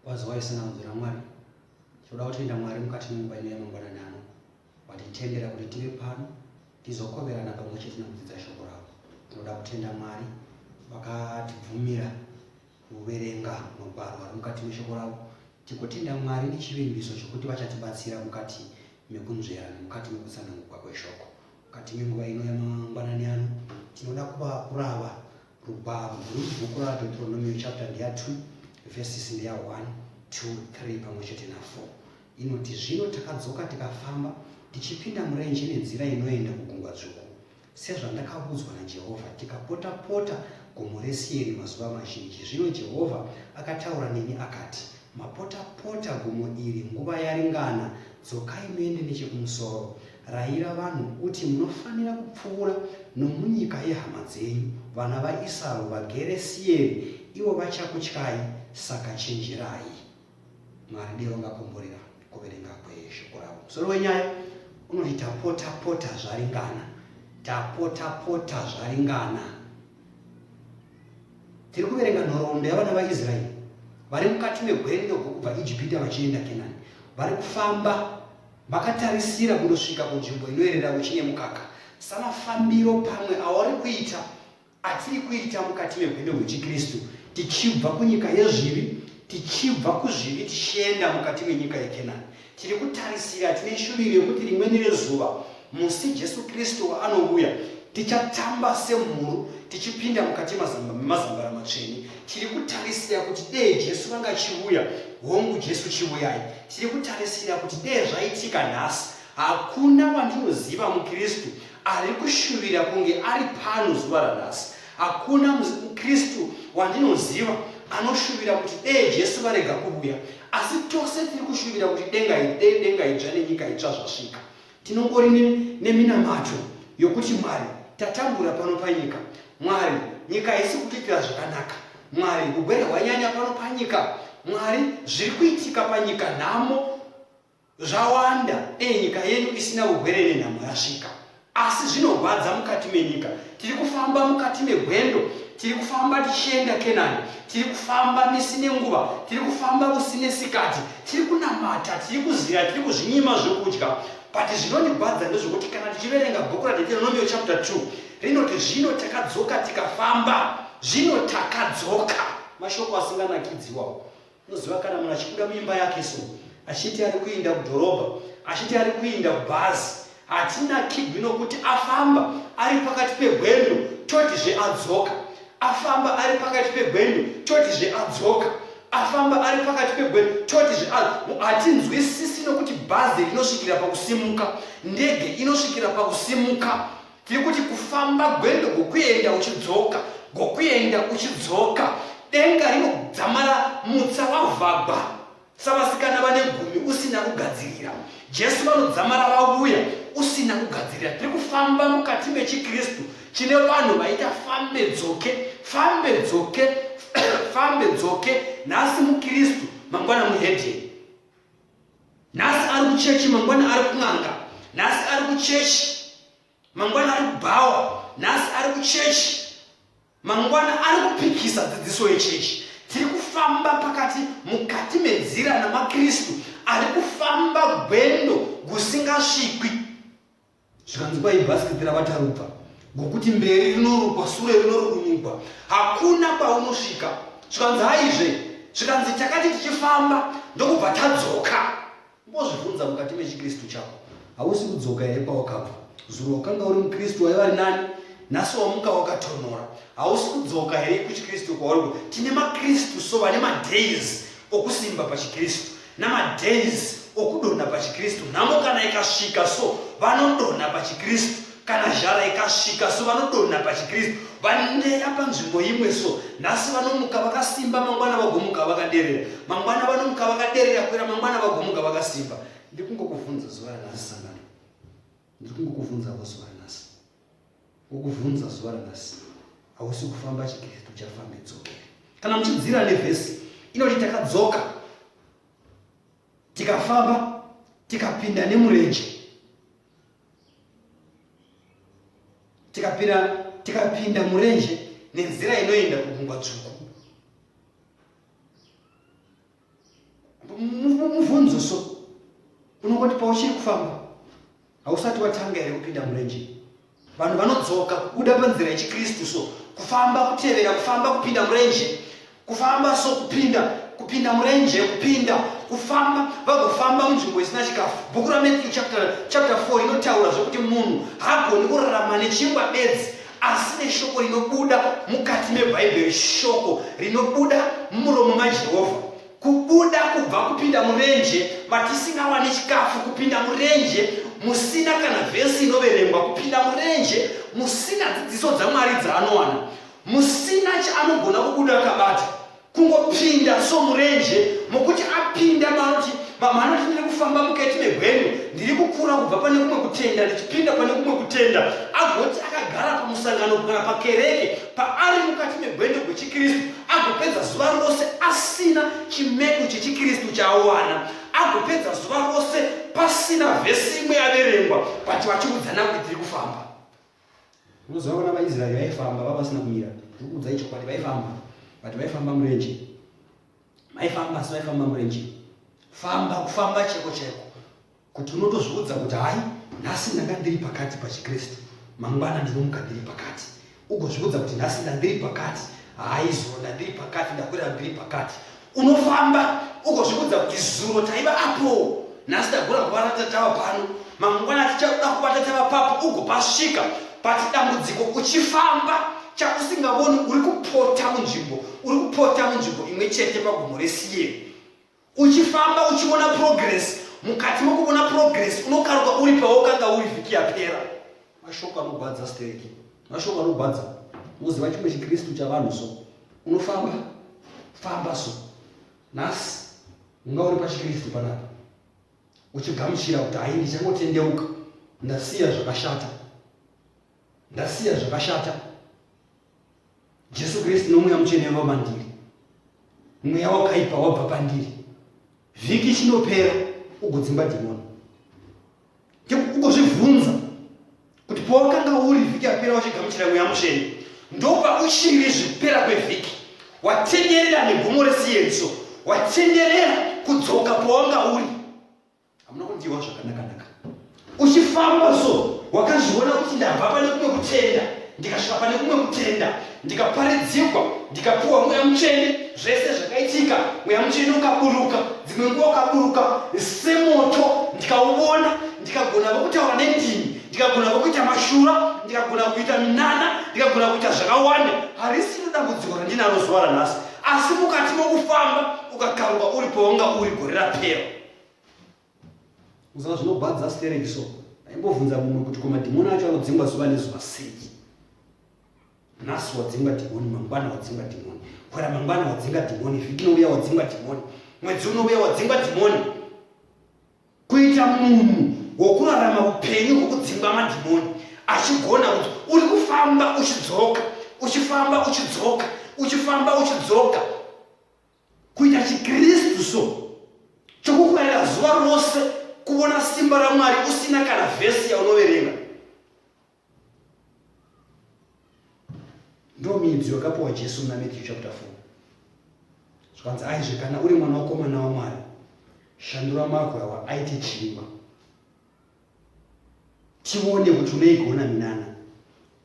Wazi waisana kunzwira Mwari. Tinoda kutenda Mwari mukati memumba ino yamangwanani ano watitendera kuti tive pano tizokoverana pamwe chete nekudzidza shoko ravo. Tinoda kutenda Mwari vakatibvumira kuverenga magwaro ari mukati meshoko ravo tikutenda mwari nechivimbiso chokuti vachatibatsira mukati mekunzvera nemukati mekutsanangurwa kweshoko mukati menguva ino yamangwanani ano tinoda kuva kurava Rubhabhu, bhuku raDeuteronomio chapter ndeya 2 verses ndeya 1 to 3 pamwe chete na 4 inoti, Zvino takadzoka tikafamba tichipinda murenje nenzira inoenda kugungwa dzvuku, sezvandakavudzwa naJehovha, tikapota-pota gomo reSeiri mazuva mazhinji. Zvino Jehovha akataura neni akati, Mapota-pota gomo iri nguva yaringana, dzokai muende nechekumusoro. Rayira vanhu uti, Munofanira kupfuura nomunyika yehama dzenyu, vana vaIsau, vaGeresieri, ivo vachakutyai, saka chenjerai. Mwari ndiye vangakomborera kuverenga kweshoko ravo. Musoro wenyaya unoti tapotapota zvaringana, tapotapota zvaringana. Tiri kuverenga nhoroondo yavana vaIsraeri vari mukati megwendo kubva Ijipita vachienda Kenani, vari kufamba Makatarisira kundosvika kunzvimbo inoerera uchi nemukaka samafambiro pamwe awari kuita atiri kuita mukati mehwendo hwechiKristu, tichibva kunyika yezvivi, tichibva kuzvivi tichienda mukati menyika yeKenani. Tiri kutarisira, tine shuviro yekuti rimweni rezuva, musi Jesu Kristu waanouya, tichatamba semhuru tichipinda mukati mazambara matsvene. tiri kutarisira kuti dee jesu vanga chiuya hongu jesu chiuyai tiri kutarisira kuti dee zvaitika nhasi hakuna wandinoziva mukristu ari kushuvira kunge ari pano zuva ranhasi hakuna mukristu wandinoziva anoshuvira kuti dee jesu varega kuvuya asi tose tiri kushuvira kuti denga idee denga idzva nenyika itsva zvasvika Tinongori neminamato yokuti Mwari tatambura pano panyika. Mwari, nyika haisi kutiitira zvakanaka. Mwari, hugwere hwanyanya pano panyika. Mwari, zviri kuitika panyika, nhamo zvawanda. Dei nyika yedu isina hugwere nenhamo yasvika. Asi zvinorwadza mukati menyika tiri kufamba mukati megwendo tiri kufamba tichienda kenani tiri kufamba misi nenguva tiri kufamba usi nesikati tiri kunamata tiri kuzira tiri kuzvinyima zvokudya but zvinondigwadza ndezvokuti kana tichiverenga bhuku radeteronomio chapter 2 rinoti zvino takadzoka tikafamba zvino takadzoka mashoko asinganakidziwawo Unoziva kana munhu achibuda muimba yake so achiti ari kuinda kudhorobha, achiti ari kuinda kubhazi, hatinakigwi nokuti afamba ari pakati pegwendo totizve adzoka, afamba ari pakati pegwendo totizve adzoka, afamba ari pakati pegwendo totizve adzoka. Hatinzwisisi nokuti bhazi rinosvikira pakusimuka, ndege inosvikira pakusimuka, Tiri kuti kufamba gwendo gokuyenda uchidzoka, gokuyenda uchidzoka. Denga rinodzamara mutsa wavhagwa savasikana vane gumi usina kugadzirira. Jesu vanodzamara vavuya usina kugadzirira. Tiri kufamba mukati mechiKristu chine vanhu vaita fambe dzoke, fambe dzoke, fambe dzoke, nhasi muKristu, mangwana muhedheni. nhasi ari kuchechi mangwana ari kun'anga nhasi ari kuchechi mangwana ari kubhawa nhasi ari kuchechi mangwana ari kupikisa dzidziso yechechi tiri kufamba pakati mukati menzira namakristu ari kufamba gwendo gusingasvikwi zvikanzi kwai bhasikiti ravatarubva ngokuti mberi rinorukwa sure rinorukunugwa hakuna kwaunosvika zvikanzi haizve zvikanzi takati tichifamba ndokubva tadzoka mbozvibvunza mukati mechikristu chako hausi kudzoka here kwawakabva zuro wakanga uri mukristu waiva ri nani nhasi wamuka wakatonora hausi kudzoka here kuchikristu kwauri tine makristu so vane madays okusimba pachikristu namadance okudonha pachikristu nhamo kana ikasvika so vanodonha pachikristu kana zhara ikasvika so vanodonha pachikristu vandeya panzvimbo imwe so nhasi vanomuka vakasimba mangwana vagomuka vakaderera mangwana vanomuka vakaderera kuera mangwana vagomuka vakasimba ndikungokuvhunza zuva ranhasi sangano ndikungokuvhunzavo zuva Kukuvhunza zuva ranhasi hausi kufamba chikristu chafambe dzokere. Kana muchidzira nevhesi inoti takadzoka tikafamba tikapinda nemurenje tikapinda tikapinda murenje nenzira inoenda kugungwa dzvuku mubvunzo so unongoti pauchiri kufamba hausati watanga here kupinda murenje vanhu vanodzoka kubuda panzira yechikristu so kufamba kutevera kufamba kupinda murenje kufamba so kupinda kupinda murenje kupinda kufamba vagofamba munzvimbo isina chikafu bhuku ramatthew chapter 4 inotaura zvekuti munhu haagoni kurarama nechingwa bedzi asi neshoko rinobuda mukati meBhaibheri, shoko rinobuda mumuromo maJehovha. Kubuda kubva kupinda murenje matisingawani chikafu, kupinda murenje musina kana vhesi inoverengwa, kupinda murenje musina dzidziso dzaMwari dzaanowana, musina chaanogona kubuda akabata. kungopinda so murenje mokuti apinda maoti mama anoti ndiri kufamba mukati megwendo ndiri kukura kubva pane kumwe kutenda ndichipinda pane kumwe kutenda agoti akagara pamusangano kana pakereke paari mukati megwendo gwechikristu agopedza zuva rose asina chimedu chechikristu chaawana agopedza zuva rose pasina vhesi imwe yaverengwa but vachiudzana kuti tiri kufamba Unoziva vana vaIsraeri vaifamba vava vasina kumira. Ndiri kuudzai chokwadi vaifamba. But vaifamba murenje. Vaifamba asi vaifamba murenje. Famba kufamba cheko cheko. Kuti unotozviudza kuti hayi nhasi ndanga ndiri pakati pachiKristu. Mangwana ndinomuka ndiri pakati. Ugozviudza kuti nhasi ndandiri pakati. Hayi zuro ndandiri pakati ndakwira ndiri pakati. unofamba ukozvikudza kuti zuro taiva apo nhasi tagona kubata tatava pano mangwana tichakuda kubata tava papo ugopasvika pati dambudziko uchifamba chausingavoni uri kupota munzvimbo uri kupota munzvimbo imwe chete pagomo resiye uchifamba uchiona progress mukati mokuona progress unokaruka uri pawokanga uri vhiki yapera mashoko anogwadza stereki Mashoko anogwadza unoziva chimwe chikristu chavanhu so unofamba famba so nhasi unga uri pachikristu panapa uchigamuchira kuti hai ndichangotendeuka ndasiya zvakashata ndasiya zvakashata jesu kristu nomweya mutsvene vava mandiri mweya wakaipa wabva pandiri vhiki chinopera ugodzimba dhimoni ugozvibvunza kuti pawakanga uri vhiki yapera wachigamuchira mweya mutsvene ndopauchiri zvipera kwevhiki watenderera negomo resiyenso watenderera kudzoka pawanga uri hamuna kundiwa zvakanakanaka uchifamba so wakazviona kuti ndabva pane kumwe kutenda ndikasvika pane kumwe kutenda ndikaparidzirwa ndikapiwa mweya mutsvene zvese zvakaitika mweya mutsvene ukaburuka dzimwe nguva ukaburuka semoto ndikauvona ndikagona vokutaura nendimi ndikagona vokuita mashura ndikagona kuita minana ndikagona kuita zvakawanda harisi nedambudziko randinaro zuva ranhasi asi mukati mokufamba ukakaruka uri paunga uri gore rapera Saka zvinobhadza stereki so aimbovhunza mumwe kuti ko madhimoni acho anodzingwa zuva nezuva sei nhasi wadzinga dhimoni mangwana wadzinga dhimoni kwera mangwana wadzinga dhimoni vhiki inouya wadzinga dhimoni mwedzi unouya wadzinga dhimoni kuita munhu wokurarama upenyu hwokudzingwa madhimoni achigona kuti uri kufamba uchidzoka uchifamba uchidzoka uchifamba uchidzoka kuita chikristu so chokukurayira zuva rose kuona simba ramwari usina kana vhesi yaunoverenga ndo midziyo yakapiwa jesu muna matthew chapter 4 zvikanzi aizve kana uri mwana wakomana wamwari shandura magwa awa aite chingwa tione kuti unoigona minana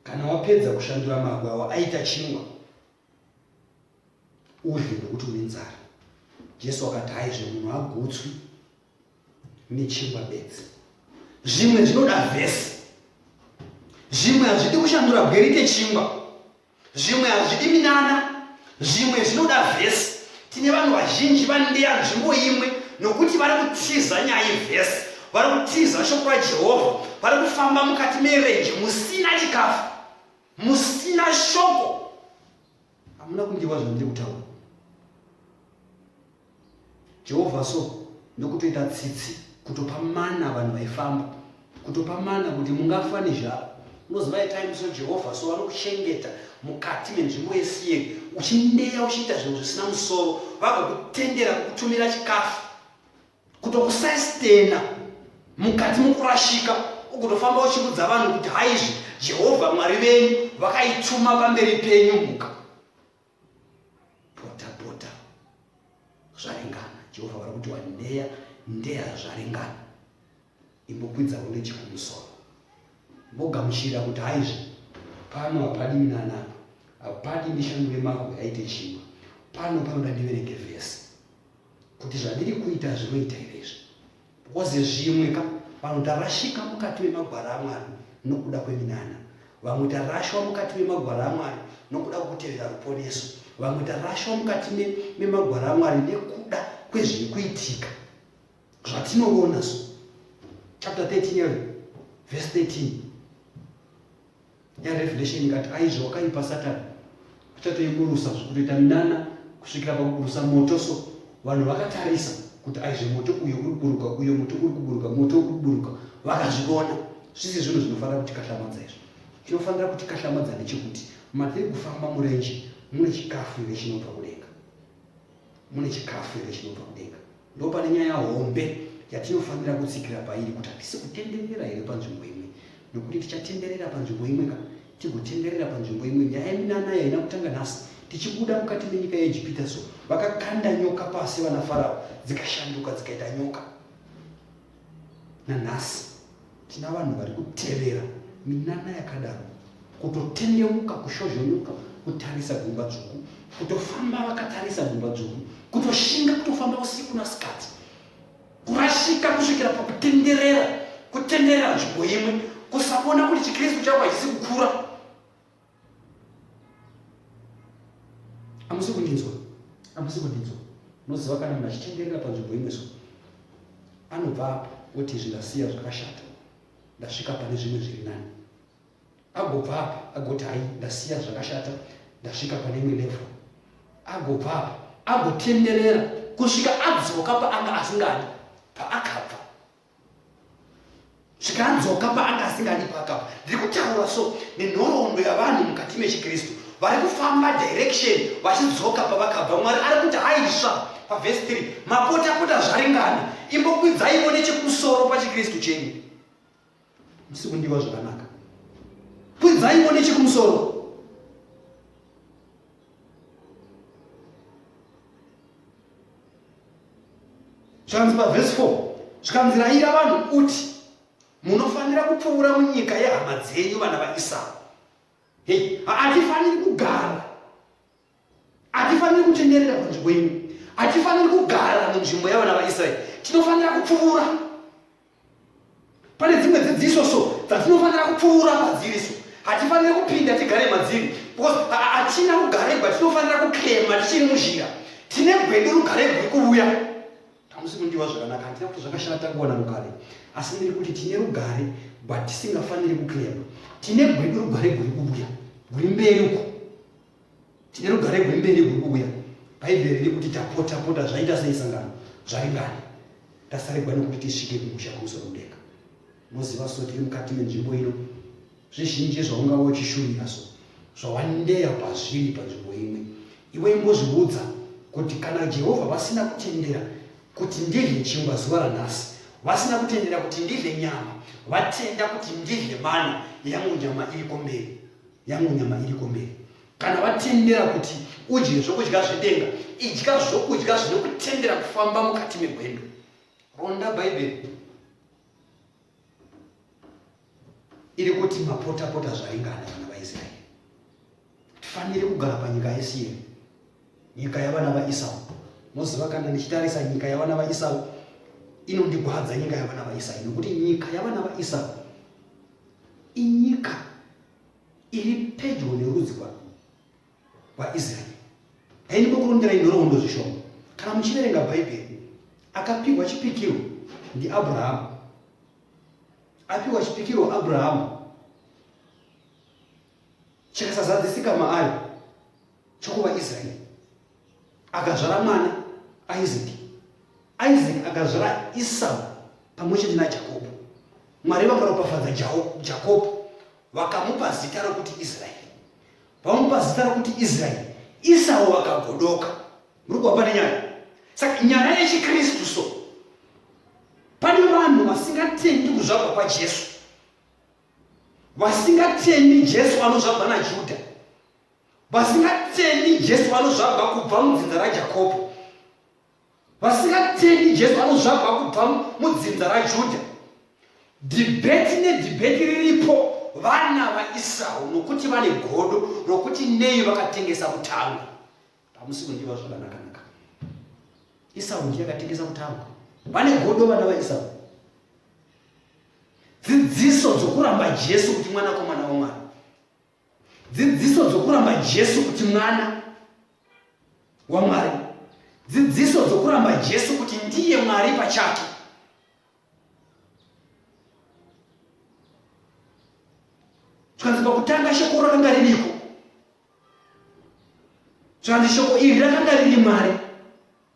kana wapedza kushandura magwa awa aita chingwa udye nokuti une nzara jesu akati haizve munhu agutswi nechingwa bedzi zvimwe zvinoda vhesi zvimwe hazvidi kushandura bwerite chingwa zvimwe hazvidi minana zvimwe zvinoda vhesi tine vanhu vazhinji vandeya nzvimbo imwe nokuti vari kutiza nyaya yevhesi vari kutiza shoko rajehovha vari kufamba mukati merenje musina chikafu musina shoko hamuna kundiwa zvandiri kutaura jehovha so ndokutoita tsitsi kutopa mana vanhu vaifamba kutopa mana kuti mungafa nezvavo unoziva time so jehovha so vanokuchengeta mukati menzvimbo yesiyeri uchineya uchiita zvinhu zvisina musoro vagokutendera kukutumira chikafu kutokusastena mukati mukurashika ukutofamba uchikudza vanhu kuti haizvi jehovha mwari venyu vakaituma pamberi penyu muka pota pota zvaringana jehovha vari kuti wandeya ndeya zvaringana imbokwidza uneche kumusoro mbogamuchira kuti haizve pano hapadi minanapa hapadi ndishandure mahwe aite chimwe pano panoda ndiverenge vhesi kuti zvandiri kuita zvinoita here izvi bcause zvimwe ka vanhu tarashika mukati memagwara amwari nokuda kweminana vamwe tarashwa mukati memagwara amwari nokuda kwekutevera ruponeso vamwe tarashwa mukati memagwara amwari nekuda kwezviri kuitika zvatinoona so chapter 13 yave vhesi 13 yarevelation ingati aizvo wakaipa satani achatoiburusa zvikutoita minana kusvikira pakuburusa moto so vanhu vakatarisa kuti aizve moto uyo uri kuburuka uyo moto uri kuburuka moto uri kuburuka vakazvivona zvisi zvinhu zvinofanira kuti kahlamadza izvo tinofanira kuti kahlamadza nechekuti matiri kufamba murenje mune chikafu ive chinobva kudenga Mune chikafu here chinobva kudenga? Ndopane nyaya hombe yatinofanira kutsikira pairi kuti hatisi kutenderera here panzvimbo imwe, nokuti tichatenderera panzvimbo imwe ka tigotenderera panzvimbo imwe. Nyaya yeminana yaina kutanga nhasi tichibuda mukati menyika yeEgipita, so vakakanda nyoka pasi vana Farao, dzikashanduka dzikaita nyoka. nanhasi tina vanhu vari kutevera minana yakadaro kutotendeuka kushozhonuka kutarisa gumba dzvuku kutofamba vakatarisa gumba dzvuku kutoshinga kutofamba usiku nasikati kurashika kusvikira pakutenderera kutenderera nzvimbo imwe kusakona kuti chikristu chavo hachisi kukura amusi kundinzwa amusi kundinzwa unoziva kana munhu achitenderera panzvimbo imwe so anobva apo oti izvi ndasiya zvakashata ndasvika pane zvimwe zviri nani agobva apa agoti hai ndasiya zvakashata ndasvika pane imwe level agobva apa agotenderera kusvika adzoka paanga asingadi paakabva zvikanzoka paanga asingadi pakapa ndiri kutaura so nenhoroondo yavanhu mukati mechikristu vari kufamba direction vachidzoka pavakabva mwari ari kuti haisva pavhesi 3 mapotapota zvaringana imbokwidzaivo nechekusoro pachikristu chenyu musi kundiwa zvakanaka kwidzaivo nechekumusoro zvikanzi pavhesi 4 zvikanzi raira vanhu uti munofanira kupfuura munyika yehama dzenyu vana vaisau hei hatifaniri kugara hatifaniri kutenderera panzvimbo ino hatifaniri kugara munzvimbo yavana vaisraeri tinofanira kupfuura pane dzimwe dzidziso so dzatinofanira kupfuura padziri so hatifanire kupinda tigare madziri because hatina kugaregwa tinofanira kuklema tichiri muzhira tine gwedu rugare rwuri kuuya tamusi kundiwa zvakanaka handina kuti zvakashata takuwana rugare asi ndiri kuti tine rugare but tisingafaniri kuklema tine gwedu rugare rwuri kuuya rwuri mberi uko Tine rugare rwemberi rwuri kuuya. Bhaibheri riri kuti tapotapota zvaita sei sangano zvaringani tasarigwa nekuti tisvike kumusha kumusoro mudenga. Moziva so tiri mukati menzvimbo ino zvizhinji zvaungava uchishuvira so zvawandeya pazviri panzvimbo imwe iwe imbozviudza kuti kana jehovha vasina kutendera kuti ndidye chingwa zuva ranhasi vasina kutendera kuti ndidye nyama vatenda kuti ndidye mana yangu nyama iriko mberi yangu nyama iriko mberi kana vatendera kuti udye zvokudya zvedenga idya zvokudya zvinokutendera kufamba mukati megwendo ronda bhaibheri iri kuti mapotapota zvaringana vana vaisraeri tifanire kugara panyika yesiye nyika yavana vaisau moziva kana ndichitarisa nyika yavana vaisau inondigwadza nyika yavana vaisau nokuti nyika yavana vaisau inyika iri pedyo nerudzi rwaisraeri haindi kukurongerai nhoroondo zvishoma kana muchiverenga bhaibheri akapiwa chipikiro ndiabrahamu apiwa chipikiro abrahamu chakasazadzisika maari chokuvaisraeri akazvara mwana isaac isaac akazvara isau pamwe chete najakobho mwari vakaropafadza jakobho vakamupa zita rokuti israeri vamupa zita rokuti israeri isau vakagodoka muri kuva pane nyaya saka nyaya yechikristu so pane vanhu vasingatendi kuzvagwa kwajesu vasingatendi jesu anozvagwa najudha vasingatendi jesu vanozvagwa kubva mudzinza rajakobho vasingatendi jesu vanozvagwa kubva mudzinza rajudha dhibheti nedhibheti riripo vana vaisrael nokuti vane godo rokuti nei vakatengesa kutanga hamusi kundiva zvakanakanaka isau ndiye akatengesa kutanga vane godo vana vaisau dzidziso dzokuramba jesu kuti mwanakomana wamwari Dzidziso dzokuramba Jesu kuti mwana waMwari. Dzidziso dzokuramba Jesu kuti ndiye Mwari pachake. Tikanzi pakutanga shoko rakanga ririko. Tikanzi shoko iri rakanga riri Mwari.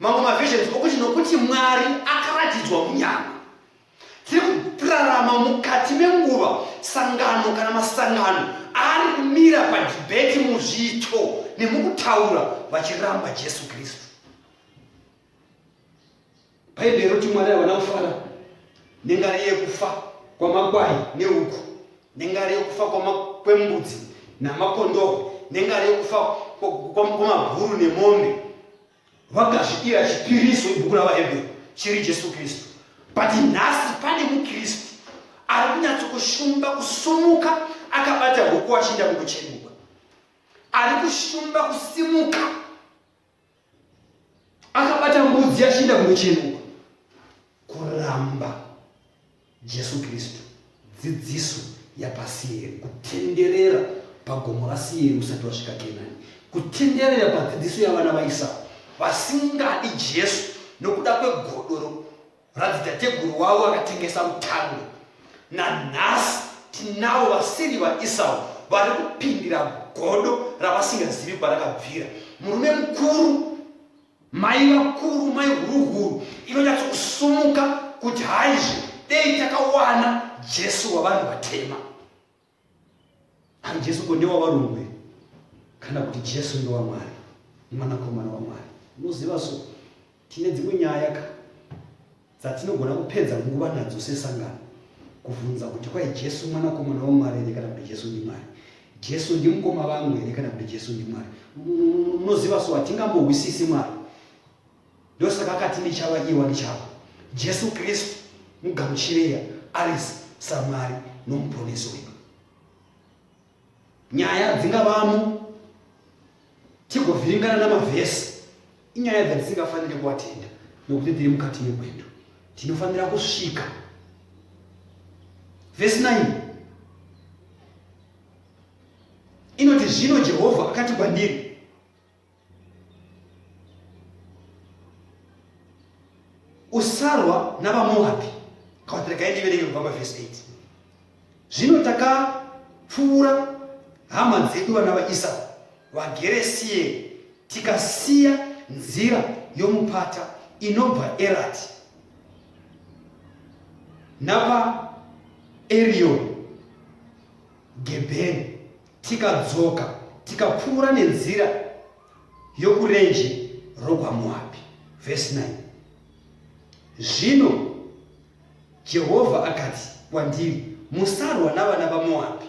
mamwe mavisions okuti nokuti mwari akaratidzwa munyama tiri kurarama mukati menguva sangano kana masangano ari kumira padhibheti muzviito nemukutaura vachiramba jesu kristu bhaibheri roti mwari havana kufara nengari yekufa kwamakwai neuku nengari yekufa kwembudzi namakondoo nengari yekufa kwamaguru nemombe vakazvidira chipiriso ibhuku ravahebreu chiri jesu kristu but nhasi pane mukristu ari kunyatsokushumba kusumuka akabata huku achienda kukuchemuka ari kushumba kusimuka akabata mbudzi achienda kukuchemuka kuramba Jesu Kristu, dzidziso yapaSieri, kutenderera pagomo raSieri usati wasvika Kenani, kutenderera padzidziso yavana vaIsau vasingadi Jesu nokuda kwegodoro radzitateguru wavo akatengesa mutando. Nanhasi tinavo vasiri vaIsau vari kupindira godo ravasingazivi kwarakabvira. Murume mukuru Mai vakuru, mai huruhuru inonyatso kusumuka kuti haizve dei takawana Jesu wavanhu vatema. Ari Jesu ko ndewavarungu here? Kana kuti Jesu ndewaMwari, mwanakomana waMwari? Unoziva so tine dzimwe nyaya ka dzatinogona kupedza nguva nadzo sesangano kuvhunza kuti kwai Jesu mwanakomana waMwari here kana kuti Jesu ndiMwari? Jesu ndimukoma vangu here kana kuti Jesu ndiMwari? Munoziva so hatingambohwisisi Mwari. Ndosaka akati ndichava iwa ndichava. Jesu Kristu mugamuchireya ari saMwari nomuponesi wedu. nyaya dzingavamo tigovhiringana namavhesi inyaya dzatisingafanire kuatenda nokuti tiri mukati megwendo tinofanira kusvika vhesi 9 inoti zvino jehovha akati kwandiri usarwa navamoabhi kawatirega ndiverenge kubva pavhesi 8 zvino takapfuura hama dzedu vana vaisau vagere siye tikasiya nzira yomupata inobva erati napa erioni gebheni Tikadzoka tikapfuura nenzira yokurenje rokwaMoabhi. Vhesi 9 Zvino Jehovha akati kwandiri, Musarwa navana vaMoabhi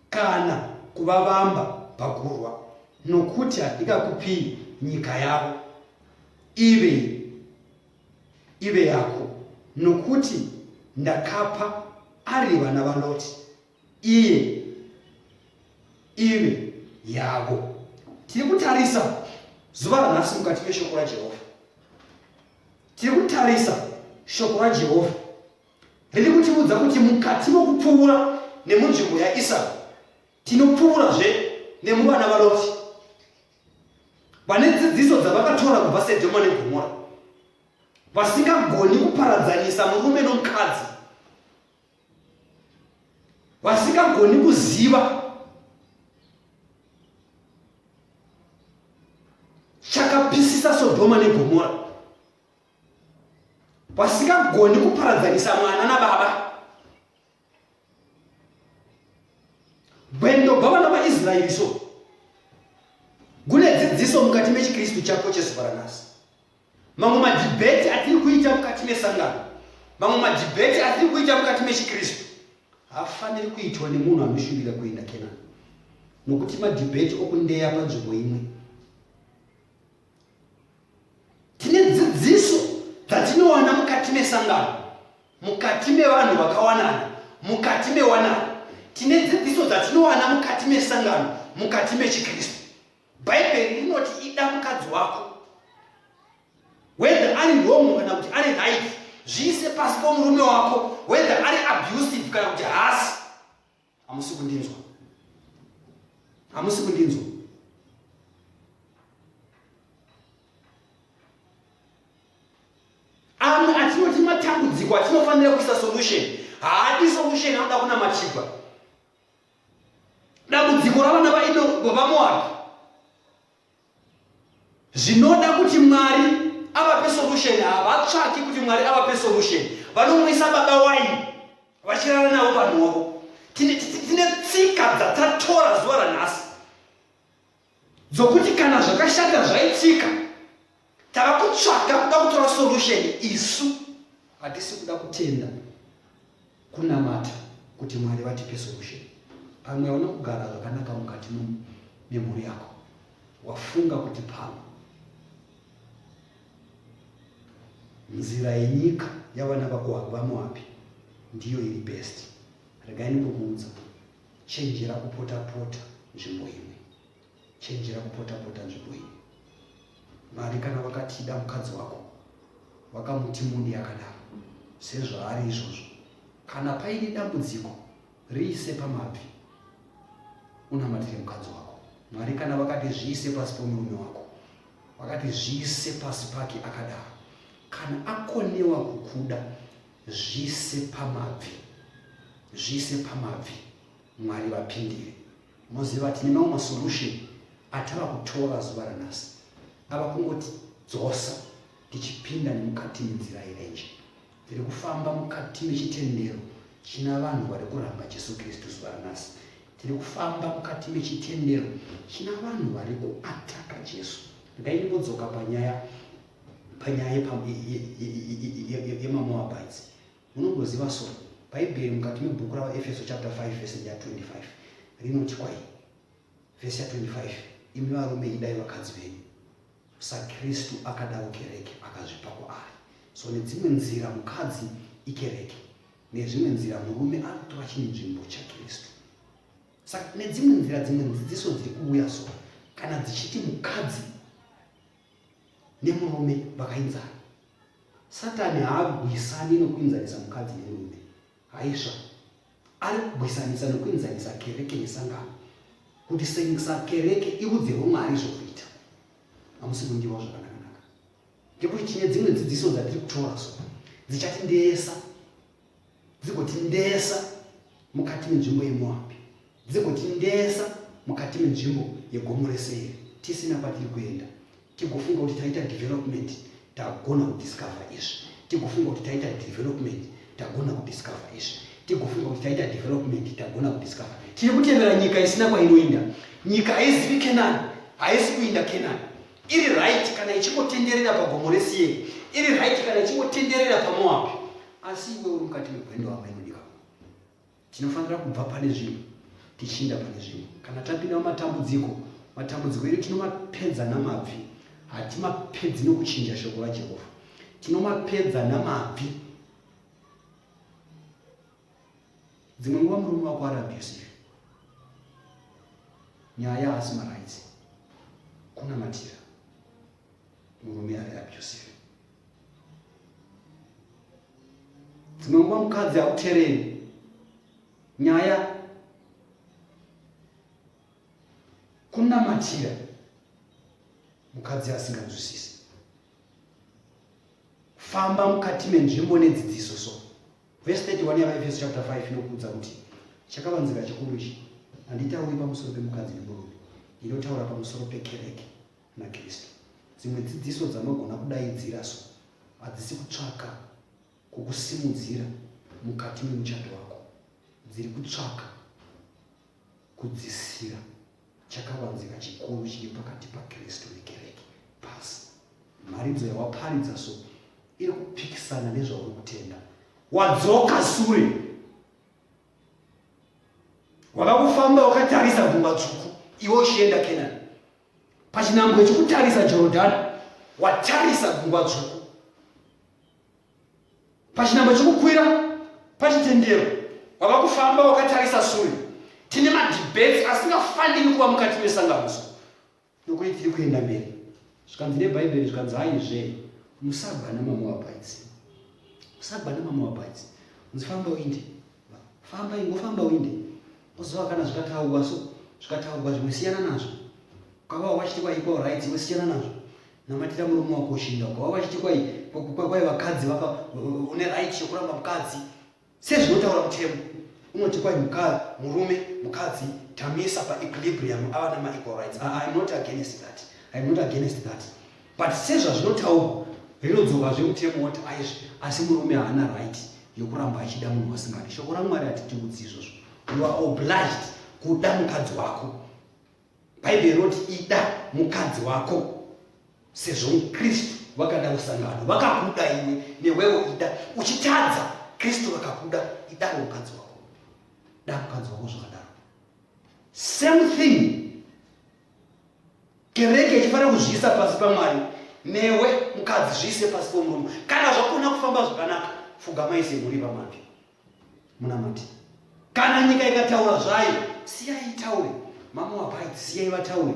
kana kuvavamba pakurwa, nokuti handingakupii nyika yavo ive ive yako, nokuti ndakapa ari vana vaLoti. iye ive yavo. Tiri kutarisa zuva ranhasi mukati meshoko raJehovha. Tiri kutarisa shoko raJehovha riri kutiudza kuti mukati mokupfuura nemunzvimbo yaIsau tinopfuurazve nemuvana vaLoti vane dzidziso dzavakatora kubva Sedhoma neGomora vasingagoni kuparadzanisa murume nomukadzi vasingagoni kuziva chakapisisa sodhoma negomora vasingagoni kuparadzanisa mwana nababa gwendo gwavana vaisraeri so gune dzidziso mukati mechikristu chako chezuva ranasi Mamwe madhibheti atiri kuita mukati mesangano, mamwe madhibheti atiri kuita mukati mechiKristu haafaniri kuitwa nemunhu anoshuvira kuenda Kenani, nokuti madhibheti okundeya panzvimbo imwe. Tine dzidziso dzatinowana mukati mesangano, mukati mevanhu vakawanana, mukati mewanano. Tine dzidziso dzatinowana mukati mesangano, mukati mechiKristu. Bhaibheri rinoti ida mukadzi wako whether ari wrong kana kuti ari right zviise pasi pomurume wako whether ari abusive kana kuti haasi hamusi kundinzwa hamusi kundinzwa amwe atinoti matambudziko atinofanira kuisa solution haadi solution anoda kunamatigwa dambudziko ravana vaido vamoabhi zvinoda kuti mwari avape solution havatsvaki kuti mwari avape solution vanomwisa baba waini vachirara navo vanhu wavo tine tsika dzatatora zuva ranhasi dzokuti kana zvakashata zvaitika tava kutsvaga kuda kutora solution isu hatisi kuda kutenda kunamata kuti mwari vatipe solution pamwe hauna kugara zvakanaka mukati memhuri yako wafunga kuti pamwe nzira yenyika yavana vako havamo api ndiyo iri best regai ndikukuudza Chenjera kupota-pota nzvimbo imwe. Chenjera kupota-pota nzvimbo imwe. Mwari kana vakatida mukadzi wako, vakamuti muni yakadaro, sezvaari izvozvo, kana paine dambudziko, riise pamabvi, unamatire mukadzi wako. Mwari kana vakati zviise pasi pomurume wako, vakati zviise pasi pake akadaro. Kana akonewa kukuda, Zviise pamabvi, zviise pamabvi, Mwari vapindire. Moziva tine mamwe masolution atava kutora zuva ranhasi ava kungoti dzosa tichipinda nemukati menzira yerenje tiri kufamba mukati mechitendero china vanhu vari kuramba jesu kristu zuva ranhasi tiri kufamba mukati mechitendero china vanhu vari kuataka jesu ndai ndinodzoka panyaya panyaya yemamoabites munongoziva so bhaibheri mukati mebhuku ravaefeso chapter 5 vese ya 25 rinoti kwai vese ya 25 imi varume idai vakadzi venyu sakristu akadawo kereke akazvipa kwaari so nedzimwe nzira mukadzi ikereke nezvimwe nzira murume anotora chinzvimbo chakristu saka nedzimwe nzira dzimwe dzidziso dziri kuuya so kana dzichiti mukadzi nemurume vakainzana. Satani haagwisani nokuinzanisa mukadzi nemurume, haisva. Ari kugwisanisa nokuinzanisa kereke nesangano, kuti sengisa kereke irudzi rwomwari zvokuita. Hamusi kundiwa zvakanakanaka. Ndekuti tine dzimwe dzidziso dzatiri kutora so dzichatindeesa dzigotindesa mukati menzvimbo yemoabhi dzigotindesa mukati menzvimbo yegomo reseiri tisina kwatiri kuenda tigofunga kuti taita development tagona kudiscover izvi tigofunga kuti taita development tagona kudiscover izvi tigofunga kuti taita development tagona kudiscover tiri kutevera nyika isina kwainoinda nyika haizivi kenani haisi kuinda kenani iri right kana ichingotenderera pagomo reSeiri, iri right kana ichingotenderera paMoabhi. Asi iwe uri mukati megwendo ava inodika. Tinofanira kubva pane zvinhu tichiinda pane zvinhu. Kana tapinda mumatambudziko, matambudziko edu tinomapedza namabvi, hatimapedzi nokuchinja shoko raJehovha. Tinomapedza namabvi. dzimwe nguva murume wako ari abusive nyaya haasi marights kunamatira murume ari abusive dzimwe nguva mukadzi akutereri nyaya kunamatira mukadzi asinganzwisisi famba mukati menzvimbo nedzidziso so Vhesi 31 yaVaEfeso chapter 5 inokuudza kuti chakavanzika chikuru ichi handitauri pamusoro pemukadzi nemurume, inotaura pamusoro pekereke naKristu. Dzimwe dzidziso dzanogona kudaidzira so hadzisi kutsvaka kukusimudzira mukati memuchato wako, dziri kutsvaka Kudzisira chakavanzika chikuru chiri pakati paKristu nekereke. Pasi, mharidzo yawaparidza so iri kupikisana nezvauri kutenda. Wadzoka sure, wava kufamba wakatarisa gungwa dzvuku, iwe uchienda Kenani. Pachinhambwe chokutarisa Jorodhani, watarisa gungwa dzvuku. pachinhambo chekukwira pachitendero wava kufamba wakatarisa sure tine madebate asingafaniri kuva mukati mesanganiso nokuti tiri kuenda mberi zvikanzi nebhaibheri zvikanzi haizve musagwa namamoabhaiti musagwa namamoabhaiti unzi famba uinde famba ingofamba uinde oziva kana zvikataurwa so zvikataurwa zvimwe siyana nazvo ukava wachiti waikwa right iwe siyana nazvo Namatira murume wako ushinda uko. Wava vachiti kwai kwai vakadzi vaka une right yokuramba mukadzi. Sezvinotaura mutemo unoti kwai mukadzi murume mukadzi tamisa pa equilibrium ava na ma equal rights. I, ah, I'm not against that. I'm not against that. But sezvazvinotaurwa rinodzoka zvemutemo woti aizvi asi murume haana right yokuramba achida munhu wasingadi. Shoko raMwari hatitiudzi izvozvo. You are obliged kuda mukadzi wako. Bhaibheri rinoti ida mukadzi wako sezvo mukristu wakada usangano vakakuda iwe newewo ida uchitadza kristu vakakuda idawo mukadzi wako da mukadzi wako zvakadaro same thing kereke ichifanira kuzviisa pasi pamwari newe mukadzi zviise pasi pomurume kana zvakona kufamba zvakanaka fugamai semhuri pamabvi munamati kana nyika ikataura zvayo siyai itaure mama wabaiti siyai vataure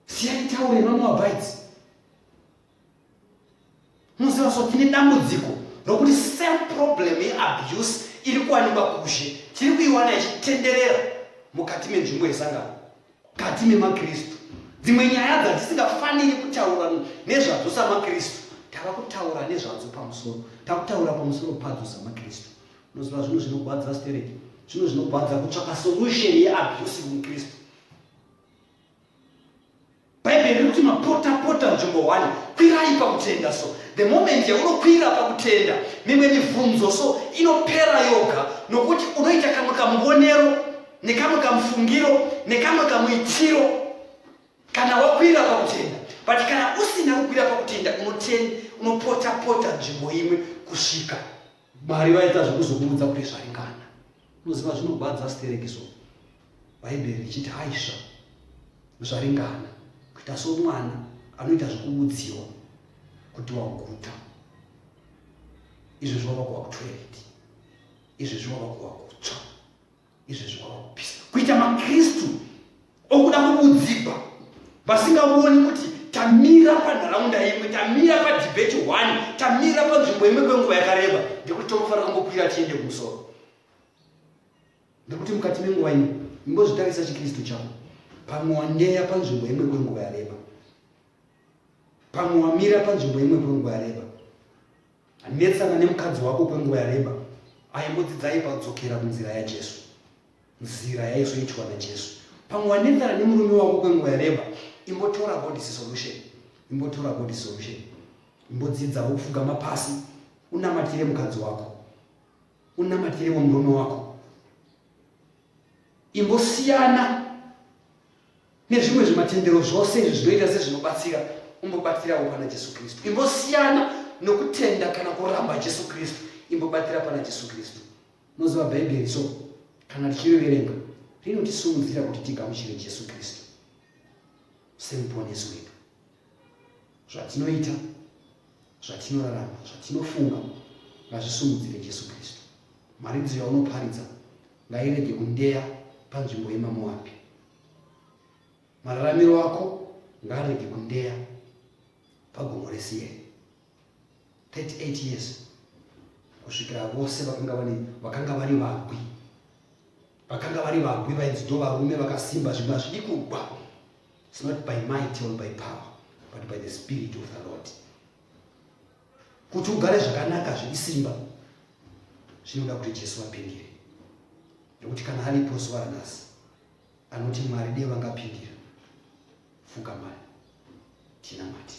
siyai taure mama wabaiti muziva so tine dambudziko rokuti same problem yeabuse iri kuwanikwa kuzhe tiri kuiwana ichitenderera mukati menzvimbo yesangano Mukati memaKristu, dzimwe nyaya dzatisingafaniri kutaura nezvadzo samaKristu, tava kutaura nezvadzo pamusoro, tava kutaura pamusoro padzo samaKristu. Unoziva zvinhu zvinogwadza stereki, zvinhu zvinogwadza kutsvaka solution yeabuse muKristu. Bhaibheri riri kuti mapota pota nzvimbo one, kwirai pakutenda so the moment yaunokwira pakutenda mimwe mibvunzo so inopera yoga nokuti unoita kamwe kamuonero nekamwe kamufungiro nekamwe kamuitiro kana wakwira pakutenda but kana usina kukwira pakutenda unotenda unopota pota nzvimbo imwe kusvika mwari vaita zvekuzokuudza kuti zvaringana unoziva zvinogwadza siterekiso bhaibheri richiti haisva zvaringana kuita somwana anoita zvekuudziwa kuti waguta izvezvi wava kuwa kutwereti izvezvi wava kuwa kutsva izvezvi kwava kupisa kuita makristu okuda kubudzigwa vasingavoni kuti tamira panharaunda imwe tamira padhibheti one tamira panzvimbo imwe kwenguva yakareba ndekuti tonofanira kungokwira tiende kumusoro ndekuti mukati menguva ino ingozvitarisa chikristu chavo pamwe wandeya panzvimbo imwe kwenguva yareba pamwe wamira panzvimbo imwe kwenguva yareba Netsana nemukadzi wako kwenguva yareba, aimbodzidzai pakudzokera kunzira yaJesu, nzira yaizoitwa naJesu. Pamwe wanetsana nemurume wako kwenguva yareba, imbotora God's Solution, imbotora God's Solution, imbodzidza wokufugama pasi, unamatire mukadzi wako, unamatire womurume wako, imbosiyana nezvimwe zvimatendero zvose izvi zvinoita sezvinobatsira umbobatirawo pana jesu kristu imbosiyana nokutenda kana kuramba jesu kristu imbobatira pana jesu kristu moziva bhaibheri so kana tichiriverenga rinotisimudzira kuti tigamuchire jesu kristu semuponesi wedu zvatinoita zvatinorarama zvatinofunga ngazvisimudzire jesu kristu mharidzo yaunoparidza ngairege kundeya panzvimbo yemamoabhi mararamiro ako ngaarege kundeya pagomo resiyeri 38 years kusvikira vose vakanga vari vakanga vari vagwi vakanga vari vagwi vainzi ndo varume vakasimba zvimwe hazvidi kugwa its not by might or by power but by the spirit of the lord kuti ugare zvakanaka zviri simba zvinoda kuti jesu vapindire nekuti kana aripo zuva ranhasi anoti mwari dei vangapindira fuka mari tinamati